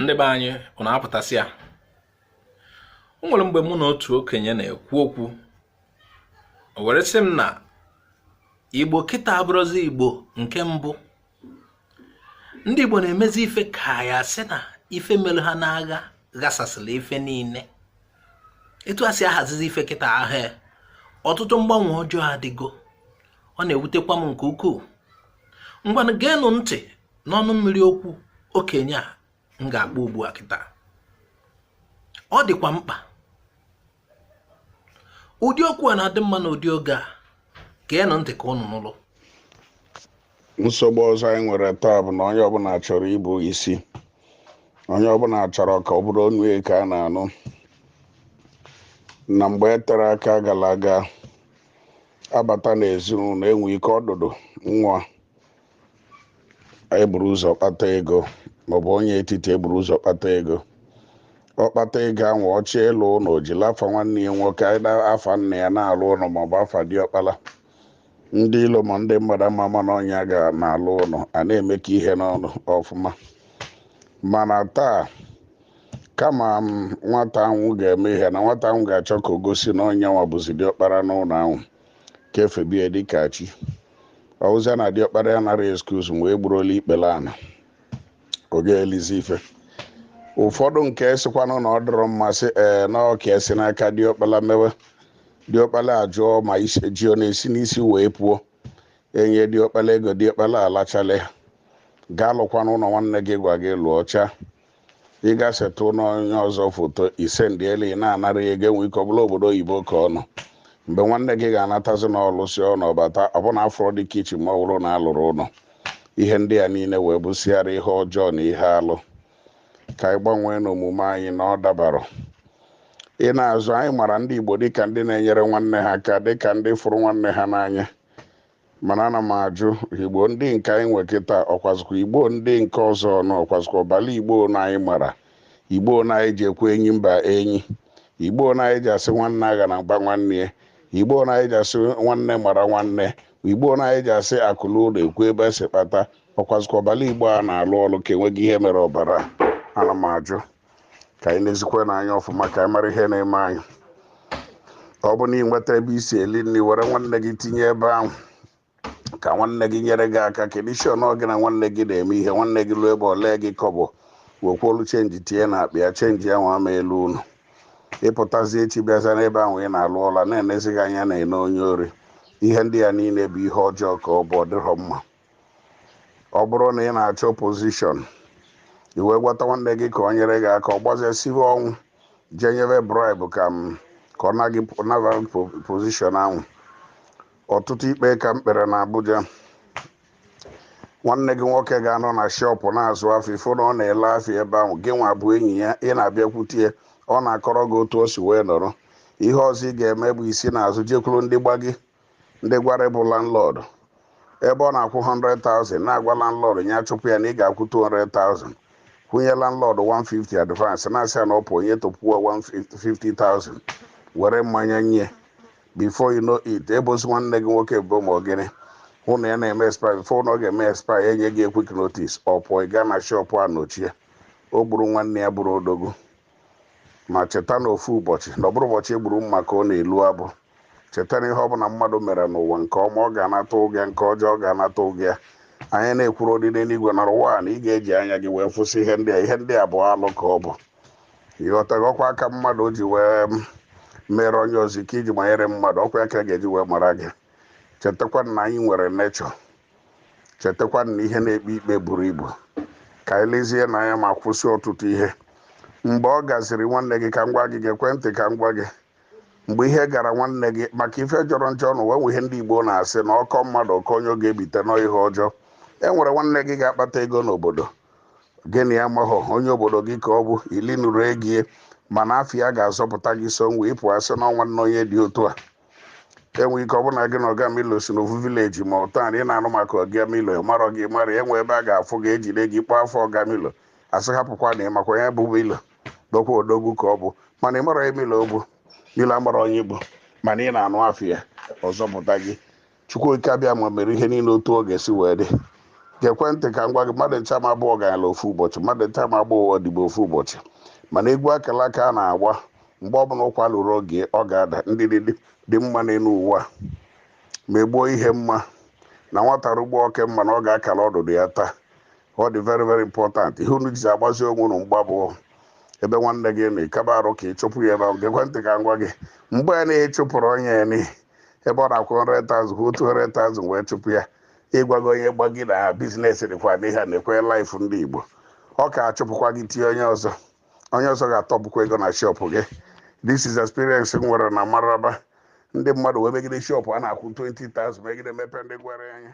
ndị be anyị unu apụtasịa o nwere mgbe mụ na otu okenye na-ekwu okwu o were sị m na igbo kịta abụrọzi igbo nke mbụ ndị igbo na-emezi ife ka ya sị na ife mere ha n'agha ghasasịrị ife niile etu a si ahazizi ife kịta ahụ ọtụtụ mgbanwe ọjọọ adịgo ọ na-ewutekwa m nke ukwuu ngwanụ geenụ ntị n'ọnụ mmiri okwu okenye a m ga-akpọ ugbu a kịta ọ dịkwa mkpa ụdị okwu a na-adị mma na ụdị oge a geenụ ntị ka ụnụ nụlụ nsogbu ọzọ anyị nwere taa bụ na onye ọbụla chọrọ ịbụ isi onye ọbụla chọrọ ka ọ bụrụ onu ya ka a na-anụ na mgbe e tere aka gara aga a bata n'ezinụlọ e nwee ike ọdụdụ nwa eburu ụzọ kpata ego maọbụ onye etiti eburu ụzọ kpata ego ọ kpata ego ahụ ọ chọọ ịlụ ụlọ jiri afa nwanne ya nwoke afa nna ya na-alụ ụlọ maọbụ afa diọkpala ndị ilo ma ndị mmadụ ama ama na ọ nya na-alụ ụlọ a na-emekọ ihe n'ọnụ ọfụma mana taa kama nwata anwụ ga-eme ihe na nwata anwụ ga-achọ ka o gosi na ọ nya nwa bụzi diọkpara n'ụlọ ahụ ka e febe ya dịka chi ọ wụzịa na diọkpara ya nara excuse wee gbuoro ya ikpere ana ọ ga-elizi ife ụfọdụ nke sịkwanụ na ọ dịrọ mma sị ee na ọ ga-esi n'aka diọkpala mewe diọkpala ajụọ ma ji ọ na-esi n'isi wee puo e nye diọkpala ego diọkpala alachala ya gaa lụkwanụ ụlọ nwanne gị gwa gị lụọ chaa ị ga setụ ụnọ onye ọzọ foto ị sendịelụ ya na-anara ya ego e nwee ike ọ bụlụ obodo oyibo ka ọ nọ mgbe nwanne gị ga-anatazi na ọ lụsị ụnọ ọ bata ọbụna afụrọdị kichin ma ọ bụrụ na a lụrụ ụlọ ihe ndị a niile wee bụsịara ihe ọjọọ na ihe alụ ka anyị gbanwee n'omume anyị na ọ dabarọ ị naa azụ anyị mara ndị igbo dịka ndị na-enyere nwanne ha aka dịka ndị fụrụ nwanne ha n'anya mana ana m ajụ igbo ndị nke anyị nwe kịta ọkwazikwa igbo ndị nke ọzọ na ọkwazikwa ọbala igbo na anyị mara igbo na anyị ji ekwe enyi mba enyi igbo na anyị ji asị nwanne aghanakwa nwanne ya igbo na anyị ji asị nwanne mara nwanne igbo na anyị ji asị akụ luo ụlọ e kwuo ebe e si kpata ọkwazikwa ọbala igbo a na-alụ ọlụ ka e nwego ihe mere ọbara ana m ajụ ka anyị nezikwanụ anya ọfụma ka anyị mara ihe na-eme anyị ọ bụ na ị nweta ebe i si eli nri were nwanne gị tinye ebe ahụ ka nwanne gị nyere gị aka ka a na-asị ọ ngị na nwanne gị na-eme ihe nwanne gị ruo ebe o lee gị kọbọ wekwolu chenji tinye na akpa ya chenji anwa ama elu ụnọ ịpụtazi echi bịaza n'ebe ahụ ị na-alụ ọlụ a na-enezi gị anya a na-ene onye ori ihe ndị a niile bụ ihe ọjọọ ka ọ bụ ọ dịrọ mma ọ bụrụ na ị na-achọ position i wee gwata nwanne gị ka o nyere gị aka ọ gbazesighị ọnwụ jee nyebe bribe ka m ka ọ naghị naba position ahụ ọtụtụ ikpe ka m kpere na Abuja nwanne gị nwoke ga-anọ na shop na-azụ afịa ị fụ na ọ na-ele afịa ebe ahụ gị nwa bụ enyi ya ị na-abịakwute ya ọ na-akọrọ gị otu o si wee nọrọ ihe ọzọ ị ga-eme bụ i si n'azụ jekwuru ndị Gbagyi ndị Gwari bụ landlord ebe ọ na-akwụ 100,000 na-agwa landlord ya chụpụ ya na ị ga-akwụ 200,000 kwụnye landlord 150 advance na-asị ya na ọ pụ onye tụpụọ 150,000 were mmanya nye before you know it e bozi nwanne gị nwoke bụ ma ọgịnị hụ na ya na-eme expire before na ọ ga-eme expire e nye ya quit notice ọ pụọ ị gaa na shop a nochie o gburu nwanne ya bụrụ odogwu ma cheta na ofu ụbọchị na ọ bụrọ ụbọchị e gburu mma ka ọ na-elu abụ cheta na ihe ọbụla mmadụ mere n'ụwa nke ọma ọ ga-anata ụgwọ nke ọjọọ ọ ga-anata ụgwọ anyị na-ekwuru ụdị n'eluigwe na ụwa na ị ga-eji anya gị wee fụsị ihe ndị a ihe ndị a bụ alụ ka ọ bụ ịghọtaghị ọkwa aka mmadụ ji wee mm, mere onye ọzọ iko i ji manyere mmadụ ọkwa ya ka a ga-eji wee maara gị chetakwa na anyị nwere nature chetakwa na ihe na-ekpe ikpe buru ibu ka anyị lezie anya ma kwụsị ọtụtụ ihe mgbe ọ gaziri nwanne gị ka m gwa gị gekwe ntị ka m gwa gị mgbe ihe gara nwanne gị maka ife jọrọ njọ na ụwa e nwe ihe ndị Igbo na-asị na ọ kọ mmadụ ọ kọ onye ọ ga-ebite na ọ ihe ọjọọ e nwere nwanne gị ga-akpata ego n'obodo gị na ya amahọ onye obodo gị ka ọ bụ i linurọ ego ya mana afa ya ga-azọpụta gị so ngwa ị pụ a sị na ọ nwanne onye dị otu a enwere ike ọ bụrụ na gị na ọga milo si n'ofu village ma ọ town ị na-anụ maka ọga milo amarọ gị mara e nwe ebe a ga-afụ gị e jide gị ị kpọọ afa ọga milo a sị hapụkwa na ị makwa ya bụ milo dokwa odogwu ka ọ bụ mana ị marọ ya milo ọ bụ milo amarọ onye ị bụ mana ị na-anụ afa ya ọ zọpụta gị chukwu okike abịama mere ihe niile otu ọ ga-esi wee dị gekwe ntị ka m gwa gị mmadụ ncha ma abụ ọgalanya ofu ụbọchị mmadụ ncha ma abụ odibo ofu ụbọchị mana egwu akala aka a na-agba mgbe ọbụla ụkwa luru oge ọ ga-ada ndidi dị mma n'elu ụwa ma egbuo ihe mma na nwata rugbo oke mma na ọ ga-akala ọdụdụ ya taa ọ dị very very important ihe unu ji agbazi onwe unu mgba bụ ebe nwanne gị nọ ịkaba arụ ka ị chụpụ ya ebe ahụ gekwe ntị ka m gwa gị mgbe ya na-achụpụrụ onye ya n'ihi ebe ọ na-akwụ 100,000 kwụ 200,000 wee chụpụ ya ị gwago onye Gbagyi na business dịkwa n'ihe a nekwe life ndị Igbo ọ ga-achụpụkwa gị tinye onye ọzọ onye ọzọ ga-atụpụkwa ego na shop gị this is experience m nwere na Maraba ndị mmadụ wee megide shop a na-akwụ 20,000 megide mepee ndị Gwari anya